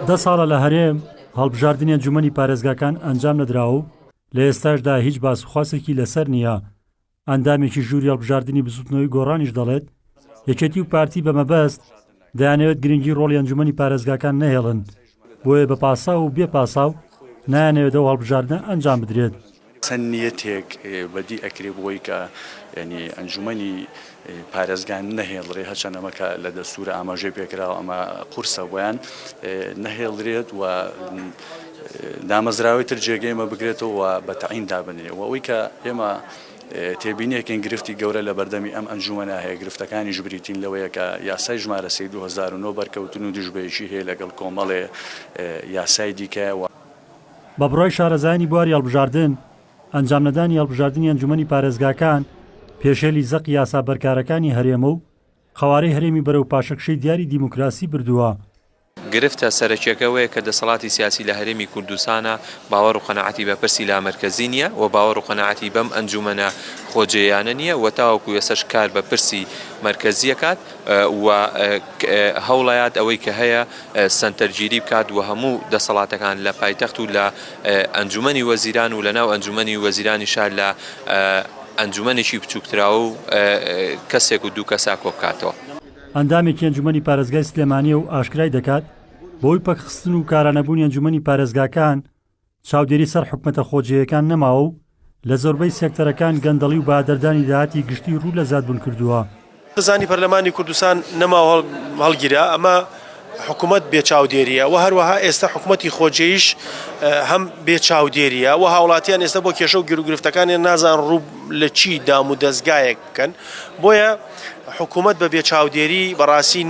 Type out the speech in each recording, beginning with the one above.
دە ساڵە لە هەرێم هەڵبژاردنی ئەنجومەنی پارێزگاکان ئەنجام نەدراوە و لە ئێستاشدا هیچ باسوخواسێکی لەسەر نییە، ئەندامێکی ژووری هەڵبژاردنی بزوتنەوەی گۆڕانیش دەڵێت، یەکێتی و پارتی بە مەبەست دەیانەوێت گرنگی ڕۆڵی ئەنجومەنی پارێزگاکان نەهێڵن، بۆیە بە پاساو و بێ پاساو نایانەوێت ئەو هەڵبژاردنە ئەنجام بدرێت. چەند نیەتێک بەدی ئەکرێ بۆی کە یانی ئەنجومەنی پارێزگان نەهێڵرێ هەرچەند ئەمە کە لە دەستورە ئاماژەی پێکراوە ئەمە قورسە بۆیان نەهێڵرێت و دامەزراوەی تر جێگەی ئەمە بگرێتەوە و بە تەعین دابنرێ و ئەوەی کە ئێمە تێبینیەکەین گرفتی گەورە لە بەردەمی ئەم ئەنجومەنە هەیە گرفتەکانیش بریتین لەوەیە کە یاسای ژمارە سێی دوو هەزار و نۆ بەرکەوتن و دژبەیەکی هەیە لەگەڵ کۆمەڵێ یاسای دیکە و بە بڕوای شارەزایانی بواری هەڵبژاردن، ئەنجامنەدانی هەڵبژاردنی ئەنجوومەنی پارێزگاکان پێشێلی زەقی یاسا بەرکارەکانی هەرێمە و قەوارەی هەرێمی بەرەو پاشەکشەی دیاری دیموکراسی بردووە. گرفتە سەرەکیەکە ئەوەیە کە دەسەڵاتی سیاسی لە هەرێمی کوردستانا باوەڕ و قەناعەتی بە پرسی لامەرکەزی نیە و باوەڕ و قەناعەتی بەم ئەنجوومەنە خۆجێیانە نیە و تاوەکو ئێسەش کار بە پرسی مەرکەزی ئەکات و هەوڵەیات ئەوەی کە هەیە سەنتەرگیری بکات و هەموو دەسەڵاتەکان لە پایتەخت و لە ئەنجومەنی وەزیران و لە ناو ئەنجومەنی وەزیرانیشا لە ئەنجومەنێکی بچووکتراو و کەسێک و دوو کەسا کۆبکاتەوە. ئەندامێکی ئەنجومەنی پارێزگای سلێمانییە و ئاشکرای دەکات، بەهۆی پەکخستن و کارانەبوونی ئەنجومەنی پارێزگاکان، چاودێری سەر حکومەتە خۆجێیەکان نەماوە و لە زۆربەی سێکتەرەکان گەندەڵی و بەهەدەردانی داهاتی گشتی روو لە زیادبوون کردووە. بزنی پەرلەمانی کوردستان نەما و هەڵگیرا، ئەمە حکومەت بێ چاودێرییە و هەروەها ئێستە حکومەتی خۆجێیش هەم بێ چاودێرییە و هاوڵاتیان ئێستە بۆ کێشە و گیروگرفتەکانیان نازانن روو لە چی دامودەزگایەک بکەن بۆیە حکومەت بە بێ چاودێری بەڕاستی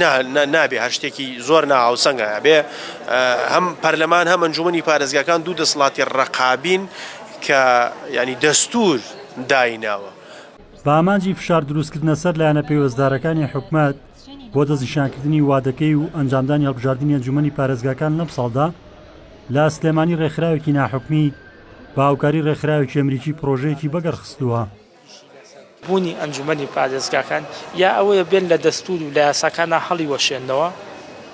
نابێ هەر شتێکی زۆر ناهاوسەنگە بێ هەم پەرلەمان هەم ئەنجومی پارێزگاکان دوو دەسڵاتی ڕقابین کە ینی دەستور دایناوە. بە ئامانجی فشار دروستکردنە سەر لایەنە پەیوەستدارەکانی حکومەت بۆ دەستنیشانکردنی وادەکەی و ئەنجامدانی هەڵبژاردنی ئەنجومەنی پارێزگاکان لەم ساڵدا لە سلێمانی ڕێکخراوێکی ناحکومی بە هاوکاری ڕێکخراوێکی ئەمریکی پرۆژەیەکی بەگەڕخستووە. بوونی ئەنجومەنی پارێزگاکان یا ئەوەیە بێن لە دەستوور و لە یاساکانا هەڵیوەشێننەوە،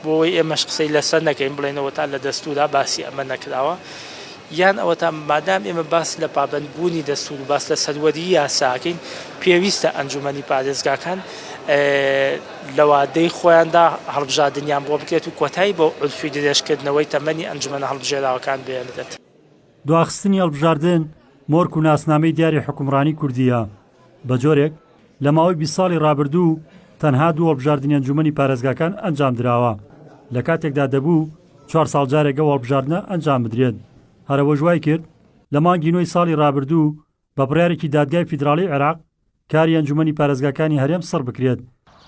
بۆ ئەوەی ئێمەش قسەی لەسەر نەکەین بڵێین ئەوەتا لە دەستوورا باسی ئەمە نەکراوە، یان ئەوەتا مادام ئێمە باس لە پابەندبوونی دەستوور و باس لە سەروەریی یاسا ئەکەین، پێویستە ئەنجومەنی پارێزگاکان لە وادەی خۆیاندا هەڵبژاردنیان بۆ بکرێت و کۆتایی بە عورفی درێژکردنەوەی تەمەنی ئەنجومەنە هەڵبژێراوەکان بهێنرێت. دواخستنی هەڵبژاردن مۆرک و ناسنامەی دیاری حوکمڕانی کوردییە، بە جۆرێک لە ماوەی بیست ساڵی ڕابردوو تەنها دوو هەڵبژاردنی ئەنجوومەنی پارێزگاکان ئەنجام دراوە، لە کاتێکدا دەبوو چوار ساڵ جارێک ئەو هەڵبژاردنە ئەنجام بدرێت، هەر ئەوەش وایکرد لە مانگی نۆی ساڵی ڕابردوو بە بڕیارێکی دادگای فیدراڵیی عێراق کاری ئەنجوومەنی پارێزگاکانی هەرێم سڕ بکرێت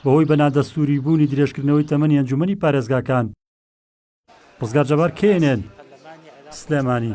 بەهۆی بە نادەستووریبوونی درێژکردنەوەی تەمەنی ئەنجوومەنی پارێزگاکان. ڕزگار جەبار کێنێن سلێمانی.